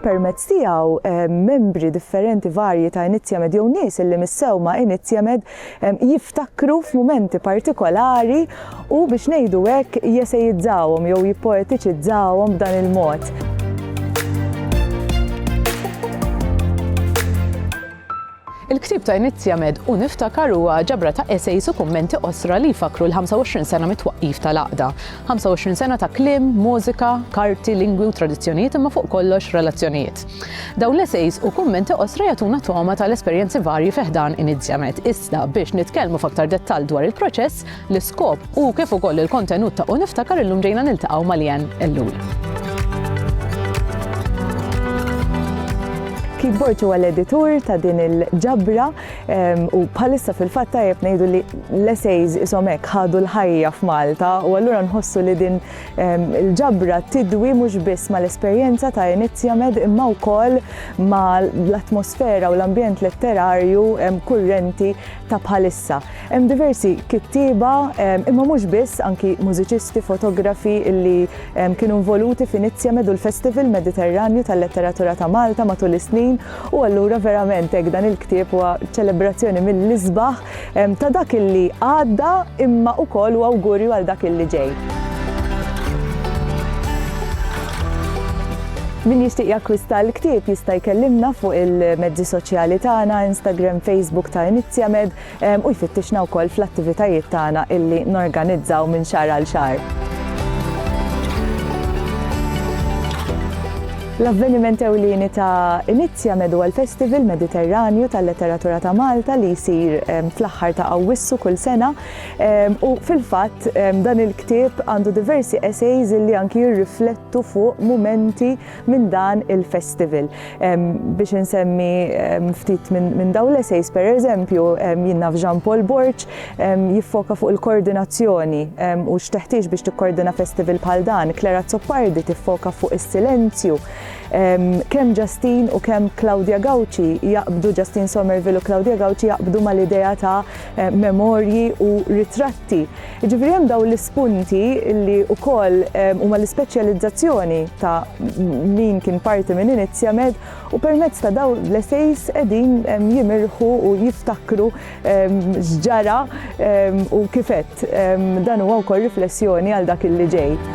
Permezz tiegħu membri differenti varji ta' Inizjamed jew nies illi missew ma' Inizjamed jiftakru f'mumenti partikolari u biex ngħidu hekk jesejizzawhom jew jippoetiċizzawhom b'dan il-mod. Il-ktieb ta' Inizja Med u Niftakar huwa ġabra ta' esejs u kummenti qosra li jfakkru l-25 sena mit-twaqqif tal-Għaqda. 25 sena ta' kliem, mużika, karti, lingwi u tradizzjonijiet imma fuq kollox relazzjonijiet. Dawn l-esejs u kummenti qosra jagħtuna togħma tal-esperjenzi varji fi ħdan Inizja Med iżda biex nitkellmu f'aktar dettall dwar il-proċess, l-iskop u kif ukoll il-kontenut ta' U Niftakar illum ġejna niltaqgħu ma' Leanne Ellul. Keyboard huwa l-editur ta' din il-ġabra u bħalissa fil-fatt tajjeb ngħidu li l-essays isom hekk ħadu l-ħajja f'Malta u allura nħossu li din il-ġabra tidwi mhux biss mal-esperjenza ta' Inizja Med imma wkoll mal-atmosfera u l-ambjent letterarju kurrenti ta' bħalissa. Hemm diversi kittieba, imma mhux biss, anki mużiċisti, fotografi illi kienu involuti f'Inizja medu l-Festival Mediterranju tal-Letteratura ta' Malta matul is-snin u allura verament hekk dan il-ktieb huwa ċelebrazzjoni mill-isbaħ ta' dak illi għadda imma wkoll u awgurju għal dak illi ġej. Min jixtieq jakkwista l-ktieb jista' jkellimna fuq il-mezzi soċjali tagħna, Instagram, Facebook ta' Inizjamed, u jfittixna wkoll fl-attivitajiet tagħna illi norganizzaw minn xahar għal xahar. L-avveniment ewlieni ta' Inizjamed huwa l-Festival Mediterranju tal-Letteratura ta' Malta li jsir fl-aħħar ta' Awwissu kull sena. U fil-fatt dan il-ktieb għandu diversi essays illi anki jirriflettu nirriflettu fuq mumenti minn dan il-festival. Biex insemmi ftit minn daw l-esejs, per eżempju, jinnaf naf Jean Paul Borg jiffoka fuq il-koordinazzjoni u x'teħtieġ biex tikkordina festival bħal dan, Claire Azzopardi tiffoka fuq is-silenzju. Kemm Justin u kemm Claudia Gauci jaqbdu, Justin Somerville u Claudia Gauci jaqbdu mal-idea ta' memorji u ritratti. Jiġifieri hemm dawn l-ispunti li wkoll huma l-ispeċjalizzazzjoni ta' min kien parti minn Iniziamed u permezz ta' dawn l-essays qegħdin jimirħu u jiftakru x'ġara u kif għedt dan huwa wkoll riflessjoni għal dak li ġej.